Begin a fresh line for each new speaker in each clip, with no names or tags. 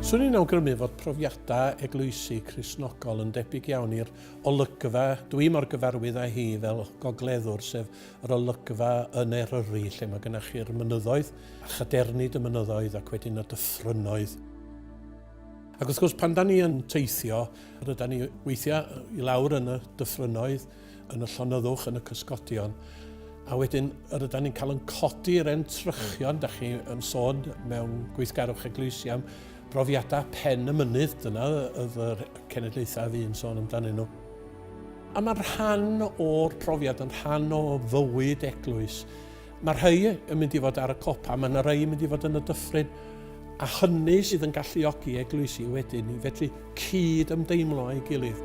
Swn i'n awgrymu fod profiadau eglwysi Cristnogol yn debyg iawn i'r olygfa dwi mor gyfarwydd â hi fel gogleddwr, sef yr olygfa yn Eryri lle mae gennych chi'r mynyddoedd, a chadernid y mynyddoedd ac wedyn y dyffrynnoedd. Ac wrth gwrs, pan da ni yn teithio, ryda ni weithiau i lawr yn y dyffrynnoedd, yn y llonyddwch, yn y cysgodion, a wedyn yr ydan ni'n cael yn codi yr entrychion, da chi yn sôn mewn gweithgarwch eglwysi am brofiadau pen y mynydd, dyna oedd yr cenedlaethau a fi'n sôn amdanyn nhw. A mae'n rhan o'r profiad, yn rhan o fywyd eglwys. Mae rhai yn mynd i fod ar y copa, mae yna rhai yn mynd i fod yn y dyffryn, a hynny sydd yn galluogi eglwysi wedyn i fedru cyd ymdeimlo â'i gilydd.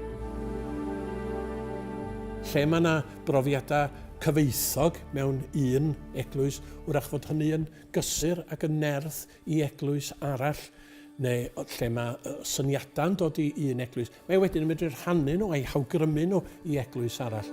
Lle mae yna brofiadau cyfoethog mewn un eglwys, wrach fod hynny yn gysur ac yn nerth i eglwys arall, neu lle mae syniadau'n dod i un eglwys. Mae wedyn yn medru rhannu nhw a'i hawgrymu nhw i eglwys arall.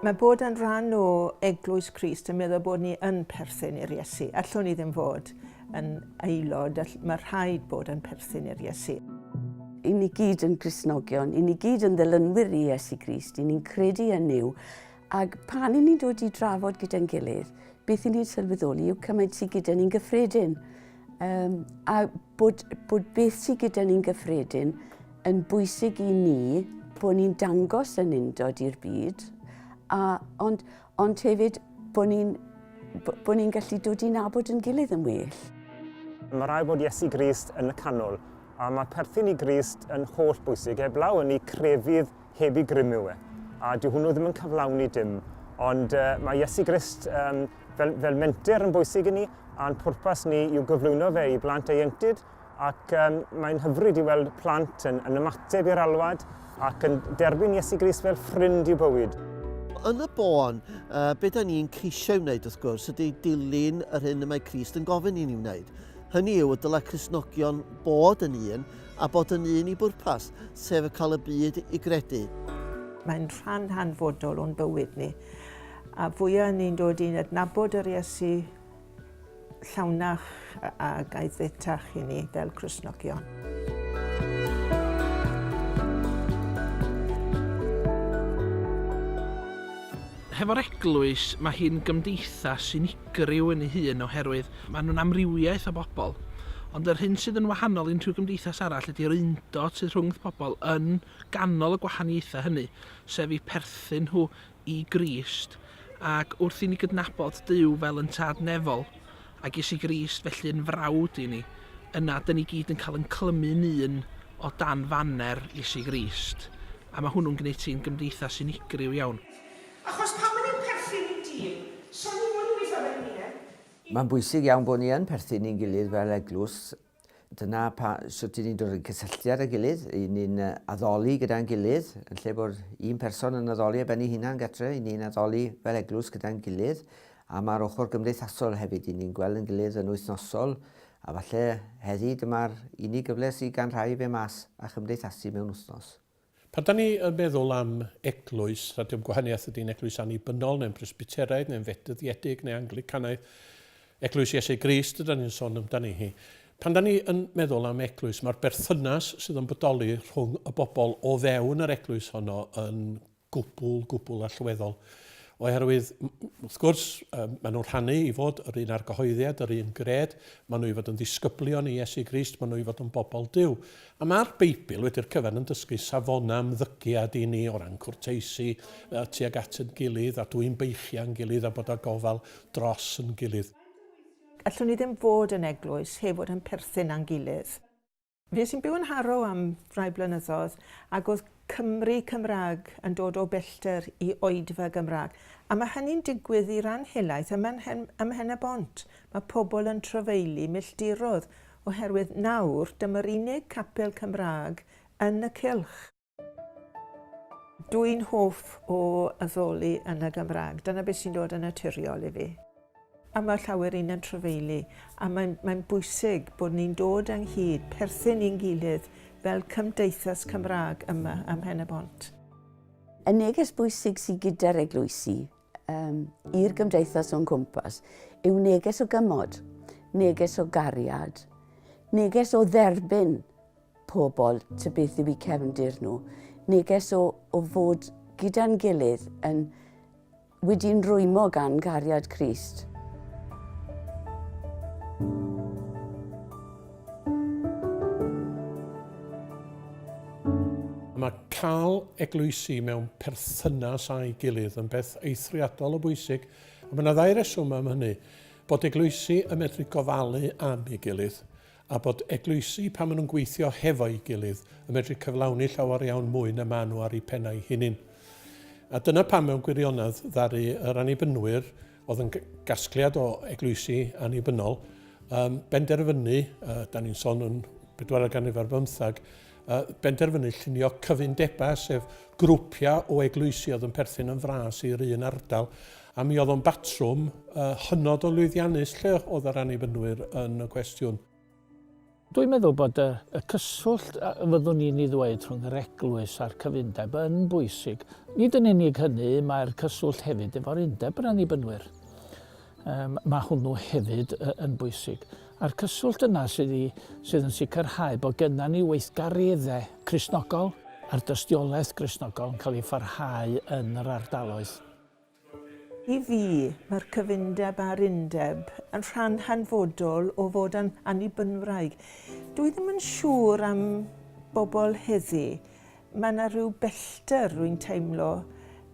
Mae bod yn rhan o Eglwys Crist yn meddwl bod ni yn perthyn i'r Iesu. Allwn ni ddim fod yn aelod, mae rhaid bod yn perthyn i'r Iesu. I ni
gyd yn grisnogion, i ni gyd yn ddilynwyr i Iesu Grist, i ni'n credu yn yw, ac pan i ni'n dod i drafod gyda'n gilydd, beth i ni'n sylweddoli yw cymaint sydd gyda ni'n gyffredin. Um, a bod, bod beth sydd gyda ni'n gyffredin yn bwysig i ni bod ni'n dangos yn undod i'r byd, a, ond, ond hefyd bod ni'n bo ni gallu dod i'n abod yn gilydd yn well. Mae rhaid
bod Iesu Grist yn y canol, a mae perthyn i Grist yn holl bwysig, heblaw yn ei crefydd heb i grymu e. A dyw hwnnw ddim yn cyflawni dim. Ond uh, mae Iesu Grist um, fel, fel menter yn bwysig i ni, a'n pwrpas ni yw gyflwyno fe i blant ieuenctid, ac um, mae'n hyfryd i weld plant yn, yn ymateb i'r alwad ac yn derbyn Iesu Grist fel ffrind i'w bywyd. Yn y
bôn, uh, beth da ni'n ceisio wneud wrth gwrs ydy dilyn yr hyn y mae Christ yn gofyn i ni wneud. Hynny yw, y dylai Christnogion bod yn un a bod yn un i bwrpas, sef cael y byd i gredu. Mae'n
rhan hanfodol o'n bywyd ni, a fwyaf ni'n dod i'n adnabod yr Iesu llawnach a gaethetach i ni fel Cristnogion.
Hefo'r eglwys, mae hi'n gymdeithas unigryw. gyrru un ei hun oherwydd maen nhw'n amrywiaeth o bobl. Ond yr hyn sydd yn wahanol i'n rhyw gymdeithas arall ydy'r undod sydd rhwngth pobl yn ganol y gwahaniaethau hynny, sef eu perthyn nhw i Grist, ac wrth i ni gydnabod Duw fel yn Tad Nefol, a ges i Grist felly yn frawd i ni, yna dyn ni gyd yn cael yn clymu'n un o dan faner Iesu Grist, a mae hwnnw'n gwneud ti'n gymdeithas unigryw iawn. Achos pan o'n
i'n perthyn i dîm, so o'n i mwy i weithio fel uned, i... Mae'n bwysig
iawn bod ni yn perthyn i'n gilydd fel eglwys. Dyna pa- sut 'yn ni'n dod yn cysylltiad â'i gilydd, 'yn ni'n addoli gyda'n gilydd, yn lle bod un person yn addoli ar ben ei hunan gartre, 'yn ni'n addoli fel eglwys gyda'n gilydd, a ma'r ochr gymdeithasol hefyd, 'yn ni'n gweld 'yn gilydd yn wythnosol, a falle heddi dyma'r unig gyfle sydd gan rhai i fe mas a chymdeithasu mewn wythnos. Pan dan ni yn
meddwl am eglwys, na dim gwahaniaeth ydy'n eglwys annibynnol, neu'n Bresbyteraidd, neu'n Fedyddiedig, neu Anglicanaidd, eglwys Iesu Grist ydan ni'n sôn amdani hi. Pan dan ni yn meddwl am eglwys, mae'r berthynas sydd yn bodoli rhwng y bobl o fewn yr eglwys honno yn gwbl, gwbl allweddol. Oherwydd, wrth gwrs, maen nhw'n rhannu i fod yr un argyhoeddiad, yr un gred, maen nhw i fod yn ddisgyblion i Iesu Grist, maen nhw i fod yn bobl Dyw. A mae'r Beibl wedi'r cyfan yn dysgu safonau ymddygiad i ni o ran cwrteisi uh, tuag at yn gilydd a dwy'n beichiau yn gilydd a bod â gofal dros yn gilydd. Allwn ni
ddim fod yn eglwys heb fod yn perthyn a'n gilydd. Fues i'n byw yn Harrow am rai blynyddoedd ac oedd Cymry Cymraeg yn dod o bellter i oedfa Gymraeg. A mae hynny'n digwydd i ran helaeth ym Mhen-y-bont. Mae pobl yn trafeilu milltirodd oherwydd nawr dyma'r unig capel Cymraeg yn y cylch. Dw i'n hoff o addoli yn y Gymraeg. Dyna beth sy'n dod yn naturiol i fi. A mae llawer un yn trafeilu, a mae'n, mae'n bwysig bod ni'n dod ynghyd, perthyn i'n gilydd fel cymdeithas Cymraeg yma ym Mhen-y-bont. Y
neges bwysig sydd gyda'r eglwysi um, i'r gymdeithas o'n cwmpas yw neges o gymod, neges o gariad, neges o dderbyn pobl ty beth yw i cefndir nhw, neges o, o fod gyda'n gilydd yn Wedi'n rwymo gan gariad Crist.
Mae cael eglwysi mewn perthynas â'i gilydd yn beth eithriadol o bwysig, a mae yna ddau reswm am hynny, bod eglwysi yn medru gofalu am ei gilydd, a bod eglwysi, pan maen nhw'n gweithio hefo'i gilydd, yn medru cyflawni llawer iawn mwy na maen nhw ar eu pennau hunain. A dyna pam mewn gwirionedd ddaru yr Annibynwyr, oedd yn gasgliad o eglwysi annibynnol, um, benderfynu, uh, da ni'n sôn yn bedwaredd ganrif ar bymthag, a benderfynu llunio cyfundebau, sef grwpiau o eglwysi oedd yn perthyn yn fras i'r un ardal, a mi oedd o'n batrwm hynod o lwyddiannus lle oedd yr Annibynwyr yn y cwestiwn. Dwi'n
meddwl bod y, y cyswllt a fyddwn ni'n ei ddweud rhwng yr eglwys a'r cyfundeb yn bwysig. Nid yn unig hynny, mae'r cyswllt hefyd efo'r undeb yr Annibynwyr. Yym, mae hwnnw hefyd yn bwysig. A'r cyswllt yna sydd, i, sydd yn sicrhau bod gennym ni weithgareddau Cristnogol a'r dystiolaeth Gristnogol yn cael ei pharhau yn yr ardaloedd.
I fi, mae'r cyfundeb a'r undeb yn rhan hanfodol o fod yn Annibynwraig. Dwi ddim yn siŵr am bobl heddi. Mae 'na rhyw bellter rwy'n teimlo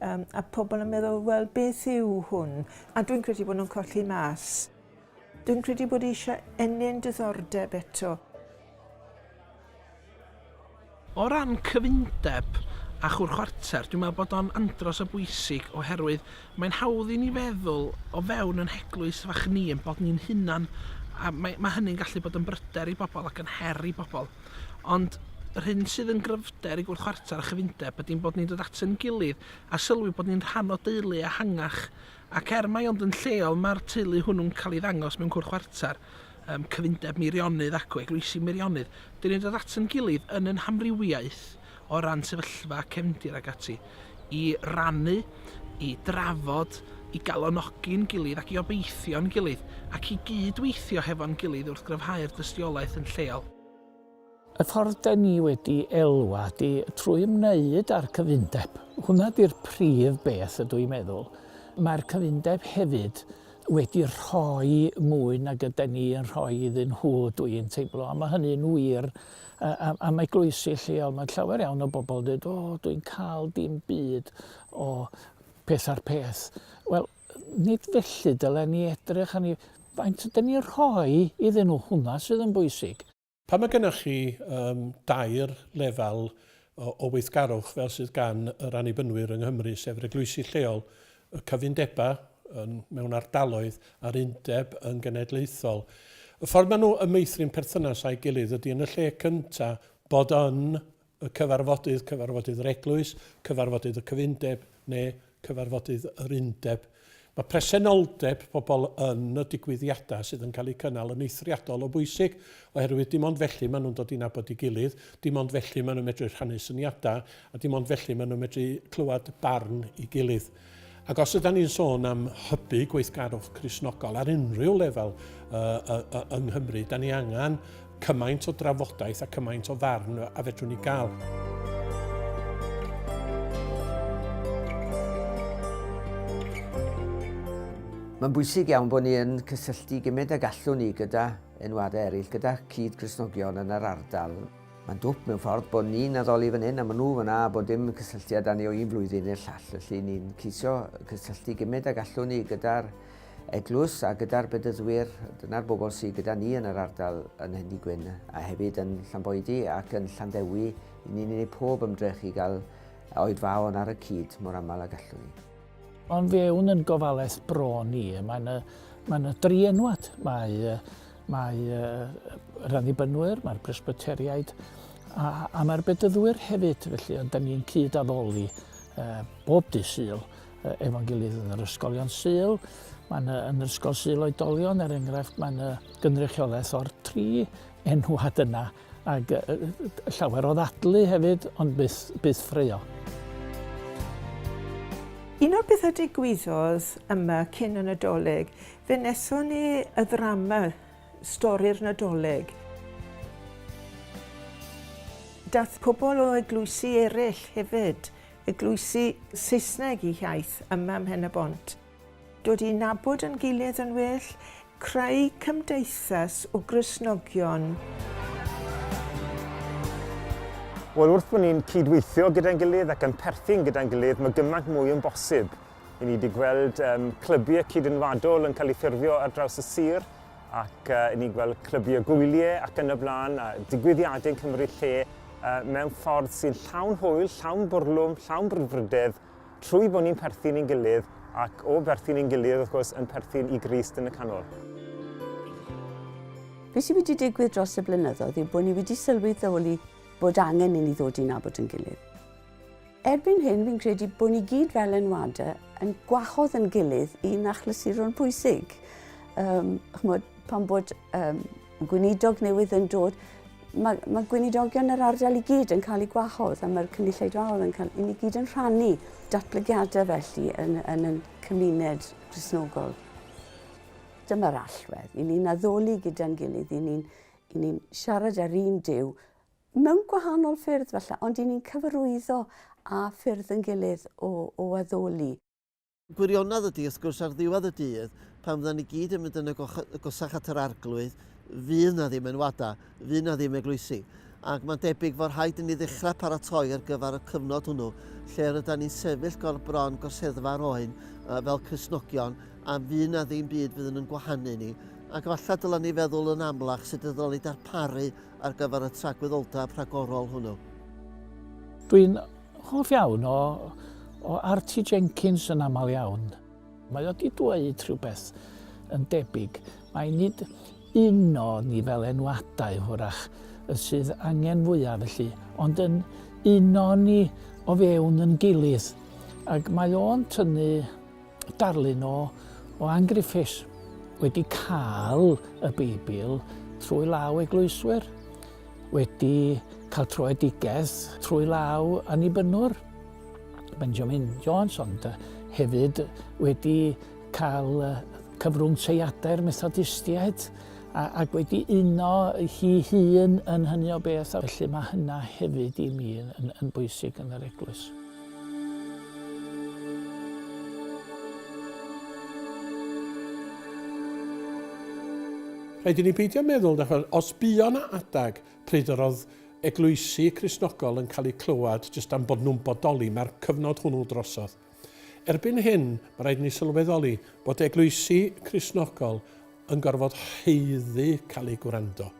um, a pobl yn meddwl, wel, beth yw hwn? A dwi'n credu bod nhw'n colli mas. Dwi'n credu bod eisiau ennyn diddordeb eto.
O ran cyfundeb a chwr chwarter, dwi'n meddwl bod o'n andros o bwysig oherwydd mae'n hawdd i ni feddwl o fewn yn heglwys fach ni yn bod ni'n hunan a mae, mae hynny'n gallu bod yn bryder i bobl ac yn her i bobl. Ond yr hyn sydd yn gryfder i gwrdd chwarter a chyfundeb ydy'n bod ni'n dod at ein gilydd a sylwi bod ni'n rhan o deulu ehangach. Ac er mai ond yn lleol mae'r teulu hwnnw'n cael ei ddangos mewn cwrdd chwarter, cyfundeb Meirionnydd acw Eglwysi Meirionnydd, dyn ni'n dod at ein gilydd yn ein hamrywiaeth, o ran sefyllfa cefndir ac ati, i rannu, i drafod, i galonogi'n gilydd ac i obeithio'n gilydd, ac i gyd-weithio hefo'n gilydd wrth gryfhau'r dystiolaeth yn lleol. Y
ffordd 'da ni wedi elwa ydi trwy ymwneud â'r cyfundeb. Hwnna ydi'r prif beth ydw i'n meddwl. Mae'r cyfundeb hefyd wedi rhoi mwy nag yden ni yn rhoi iddyn nhw, dw i'n teimlo, a mae hynny'n wir am eglwysi lleol, mae llawer iawn o bobl yn dweud, o, dwi'n cael dim byd o peth ar peth. Wel, nid felly dylen ni edrych arni. Faint ydyn ni'n rhoi iddyn nhw, hwnna sydd yn bwysig. Pan mae gennych chi
um, dair lefel o, o weithgarwch fel sydd gan yr annibynwyr yng Nghymru, sef yr eglwysi lleol, y cyfundebau yn, mewn ardaloedd a'r undeb yn genedlaethol. Y ffordd maen nhw yn meithrin perthynas â'i gilydd ydy yn y lle cyntaf bod yn y cyfarfodydd, cyfarfodydd yr eglwys, cyfarfodydd y cyfundeb neu cyfarfodydd yr undeb. Mae presenoldeb pobl yn y digwyddiadau sydd yn cael eu cynnal yn eithriadol o bwysig, oherwydd dim ond felly maen nhw'n dod i nabod i gilydd, dim ond felly maen nhw'n medru rhannu syniadau A dim ond felly maen nhw'n medru clywed barn i gilydd. Ac os yda ni'n sôn am hybu gweithgarwch Crisnogol ar unrhyw lefel uh, uh, uh, yng Nghymru, da ni angen cymaint o drafodaeth a cymaint o farn a fedrwn ni gael.
Mae'n bwysig iawn bod ni yn cysylltu gymryd ag allwn ni gyda enwadau eraill, gyda cyd-Gristnogion yn yr ardal. Mae'n dwp mewn ffordd bod ni'n addoli fan hyn a maen nhw fan 'na a bod dim cysylltiad â ni o un flwyddyn i'r llall. Felly ni'n ceisio cysylltu gymryd ag allwn ni gyda'r eglwys a gyda'r bedyddwyr, dyna'r bobl sydd gyda ni yn yr ardal yn Hendy Gwyn a hefyd yn Llanboedi ac yn Llanddewi, i ni'n gwneud pob ymdrech i gael oed faon ar y cyd mor aml ag allwn ni. Ond fewn
yn gofalaeth bron ni, mae yna, mae yna dri enwad. Mae Mae yr Annibynwyr, mae'r Presbyteriaid a, a mae'r Bedyddwyr hefyd, felly ond da ni'n cyd-addoli e, bob dy syl e, efo'n gilydd yn yr ysgolion syl. Mae'n yn yr ysgol syl oedolion, er enghraifft, mae'n gynrychiolaeth o'r tri enwad yna ac llawer o ddadlu hefyd, ond byth, byth ffreo.
Un o'r pethau digwyddodd yma cyn y Nadolig Fe wnaethon ni y ddrama Stori'r Nadolig. Daeth pobl o eglwysi eraill hefyd, eglwysi Saesneg i hiaith yma ym Mhen-y-bont. Dod i nabod yn gilydd yn well, creu cymdeithas o Gristnogion.
Wel, wrth bod ni'n cyd-weithio gyda'n gilydd ac yn perthyn gyda'n gilydd, mae gymaint mwy yn bosib. I ni wedi gweld um, clybiau cydynwadol yn cael ei ffurfio ar draws y sir ac uh, i ni gweld clybiau gwyliau ac yn y blaen a digwyddiadau yn cymryd lle uh, mewn ffordd sy'n llawn hwyl, llawn bwrlwm, llawn brwdfrydedd trwy bod ni'n perthyn i'n gilydd ac o berthyn i'n gilydd wrth gwrs yn perthyn i Grist yn y canol.
Be sydd wedi digwydd dros y blynyddoedd yw bod ni wedi sylweddoli bod angen i ni ddod i'n abod yn gilydd. Erbyn hyn fi'n credu bod ni gyd fel enwade yn gwahodd yn gilydd i nachlysuron pwysig. Um, chmod, pan bod um, gweinidog newydd yn dod, mae, mae gweinidogion yr ardal i gyd yn cael eu gwahodd a mae'r cynulleidfaoedd yn cael, i ni gyd yn rhannu datblygiadau felly yn, yn, yn cymuned grisnogol. Dyma'r allwedd, i ni'n addoli gyda'n gilydd, i ni'n ni siarad ar un diw Mewn gwahanol ffyrdd falle, ond 'yn ni'n cyfarwyddo â ffyrdd ein gilydd o, o addoli. Gwirionedd
ydy, wrth gwrs, ar ddiwedd y dydd, pan fyddan ni gyd yn mynd yn agosach at yr Arglwydd, fydd 'na ddim enwadau, fydd 'na ddim eglwysi. Ac mae'n debyg fod rhaid i ni ddechrau paratoi ar gyfer y cyfnod hwnnw, lle rydan ni'n sefyll gorbron gorseddfa yr oen fel Cristnogion, a fydd 'na ddim byd fydd yn yn gwahanu ni. Ac efallai dylen ni feddwl yn amlach sut y ddylen ni darparu ar gyfer y tragwyddoldeb rhagorol hwnnw.
Dwi'n hoff iawn o, o Artie Jenkins yn aml iawn. Mae o wedi dweud rhywbeth yn debyg. Mae nid un o ni fel enwadau hwrach y sydd angen fwyaf felly, ond yn un o ni o fewn yn gilydd. Ac mae o'n tynnu darlun o, o Ann Griffiths wedi cael y Beibl trwy law eglwyswyr, wedi cael troedigaeth trwy law annibynnwr, Benjamin Jones, ond hefyd wedi cael cyfrwng teiadau'r Methodistiaid ac wedi uno hi hun yn hynny o beth, felly mae hynna hefyd i mi yn, yn bwysig yn yr eglwys.
Rhaid i ni beidio meddwl na chwel, os buo 'na adeg pryd yr oedd eglwysi Cristnogol yn cael eu clywed jyst am bod nhw'n bodoli, mae'r cyfnod hwnnw drosodd. Erbyn hyn, mae rhaid i ni sylweddoli bod eglwysi Cristnogol yn gorfod haeddu cael eu gwrando.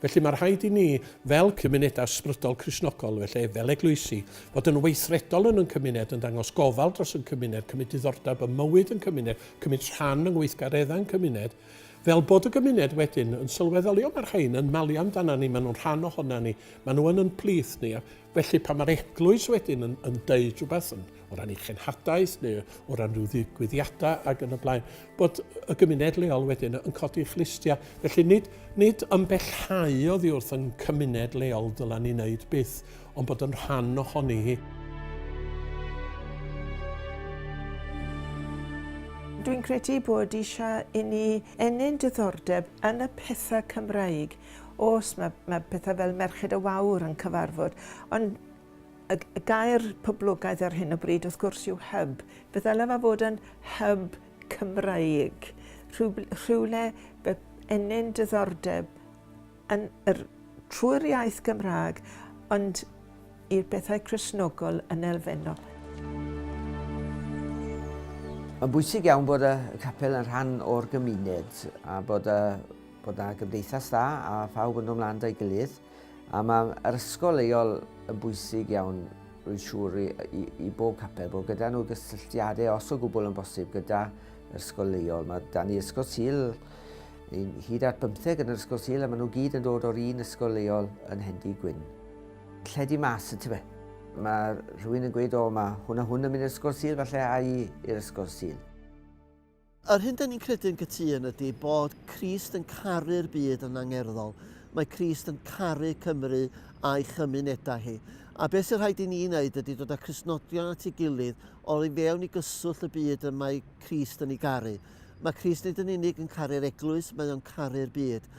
Felly, mae rhaid i ni, fel cymunedau ysbrydol Cristnogol, felly, fel eglwysi, fod yn weithredol yn yn cymuned, yn dangos gofal dros yn cymuned, cymryd diddordeb ym mywyd yn cymuned, cymryd rhan yng ngweithgareddau yn cymuned, fel bod y gymuned wedyn yn sylweddoli, o, mae'r rhain yn malu amdana ni, maen nhw'n rhan ohona ni, maen nhw yn yn plith ni, a. Felly, pan mae'r eglwys wedyn yn, yn deud rhywbeth yn, o ran ei chenhadaeth neu o ran rhyw ddigwyddiadau ac yn y blaen, bod y gymuned leol wedyn yn codi chlustiau. Felly nid, nid ymbellhau oddi wrth yn cymuned leol dylan ni wneud byth, ond bod yn rhan ohoni hi.
Dwi'n credu bod eisiau i ni ennyn diddordeb yn y pethau Cymraeg Oes, mae, mae pethau fel Merched y Wawr yn cyfarfod, ond y, y gair poblogaidd ar hyn o bryd wrth gwrs yw hyb. Fe ddylai fe fod yn hyb Cymraeg, rhyw, rhywle fe ennyn diddordeb yn yr, trwy'r iaith Gymraeg, ond i'r bethau Cresnogol yn elfennol. Mae'n
bwysig iawn bod y capel yn rhan o'r gymuned a bod y Bod 'na gymdeithas dda a phawb yn dod 'mlaen 'da'i gilydd, a ma' yr ysgol leol yn bwysig iawn rwy'n siŵr i i i bob capel, bod gyda nhw gysylltiadau os o gwbl yn bosib gyda yr ysgol leol. Mae 'da ni ysgol Sul, ni'n hyd at bymtheg yn yr ysgol Sul a maen nhw gyd yn dod o'r un ysgol leol yn Hendy Gwyn. Lledu mas y tyfe. Mae rhywun yn gweud o mae hwn a hwn yn mynd i'r ysgol Sul falle a'i i'r ysgol Sul. Yr
hyn 'da ni'n credu'n gytûn ydy bod Crist yn caru'r byd yn angerddol. Mae Crist yn caru Cymru a'i chymunedau hi. A beth sy'n rhaid i ni wneud ydy dod â Christnogion at ei gilydd o i fewn i gyswllt y byd y mae Crist yn ei garu. Mae Crist nid yn unig yn caru'r eglwys, mae o'n caru'r byd.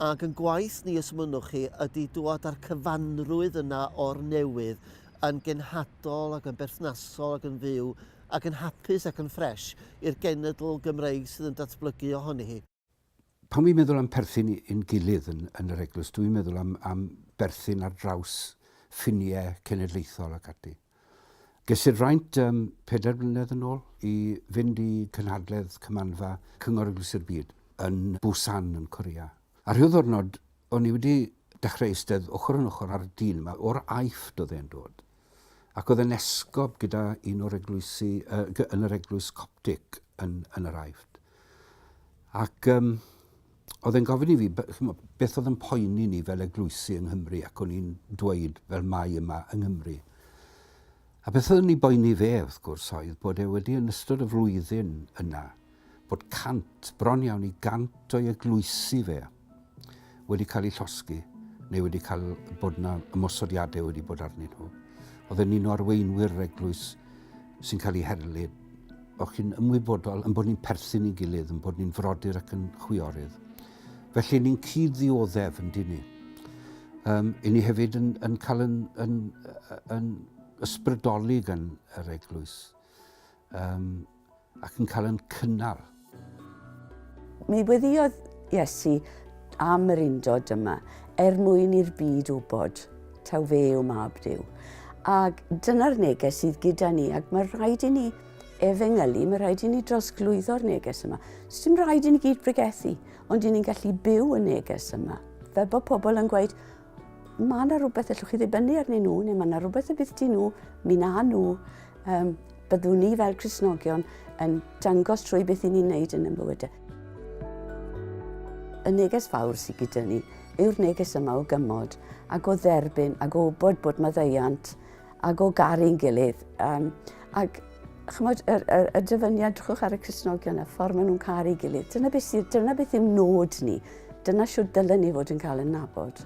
Ac yn gwaith ni, os mynnwch chi, ydy dwad â'r cyfanrwydd yna o'r newydd yn genhadol ac yn berthnasol ac yn fyw ac yn hapus ac yn ffresh i'r genedl Gymreig sydd yn datblygu ohoni hi. Pan fi'n meddwl
am perthyn i'n gilydd yn yn yr eglwys dwi'n meddwl am am berthyn ar draws ffinie cenedlaethol ac ati. Ges i'r fraint yym pedair mlynedd yn ôl i fynd i cynhadledd Cymanfa Cyngor Eglwysi'r Byd yn Busan yn Corea. A rhyw ddwrnod o'n i wedi dechrau eistedd ochr yn ochr â'r dyn 'ma, o'r Aifft oedd e'n dod, ac oedd e'n esgob gyda un o'r eglwysi yy yn yr eglwys Coptic yn yn yr Aifft. Ac um, oedd e'n gofyn i fi beth oedd yn poeni ni fel eglwysi yng Nghymru ac o'n i'n dweud fel mai yma yng Nghymru. A beth oedd yn ei boeni fe wrth gwrs oedd bod e wedi yn ystod y flwyddyn yna bod cant, bron iawn i gant o'i eglwysi fe, wedi cael eu llosgi, neu wedi cael bod yna ymosodiadau wedi bod arnyn nhw. Oedd yn un o arweinwyr yr eglwys sy'n cael ei herlu. O'ch chi'n ymwybodol yn bod ni'n perthyn i'n gilydd, yn bod ni'n frodyr ac yn chwiorydd. Felly ni'n cyd ddioddef yn dyn ni. Um, I ni hefyd yn, yn cael yn, yn, yn ysbrydoli gan yr eglwys. Um, ac yn cael yn cynnal.
Mi weddiodd Iesu am yr undod yma, er mwyn i'r byd wybod taw fe yw mab Dyw. Ac dyna'r neges sydd gyda ni, ac mae rhaid i ni efengylu, mae rhaid i ni drosglwyddo'r neges yma. Does dim rhaid i ni gyd bregethu, ond i ni'n gallu byw y neges yma. Fel bod pobl yn gweud, Mae yna rhywbeth allwch chi ddibynnu arnyn nhw, neu mae yna rhywbeth y bydd di nhw, mi na nhw, um, byddwn ni fel Cresnogion yn dangos trwy beth i ni'n neud yn ymbywydau. Y neges fawr sydd gyda ni yw'r neges yma o gymod ac o dderbyn ac o bod bod maddeiant ac o garu'n gilydd. Um, ac chymod, y, y, y dyfyniad, drwchwch ar y Cresnogion a ffordd maen nhw'n caru'i gilydd. Dyna beth, sydd, dyna beth yw nod ni. Dyna siw dylen ni fod yn cael yn nabod.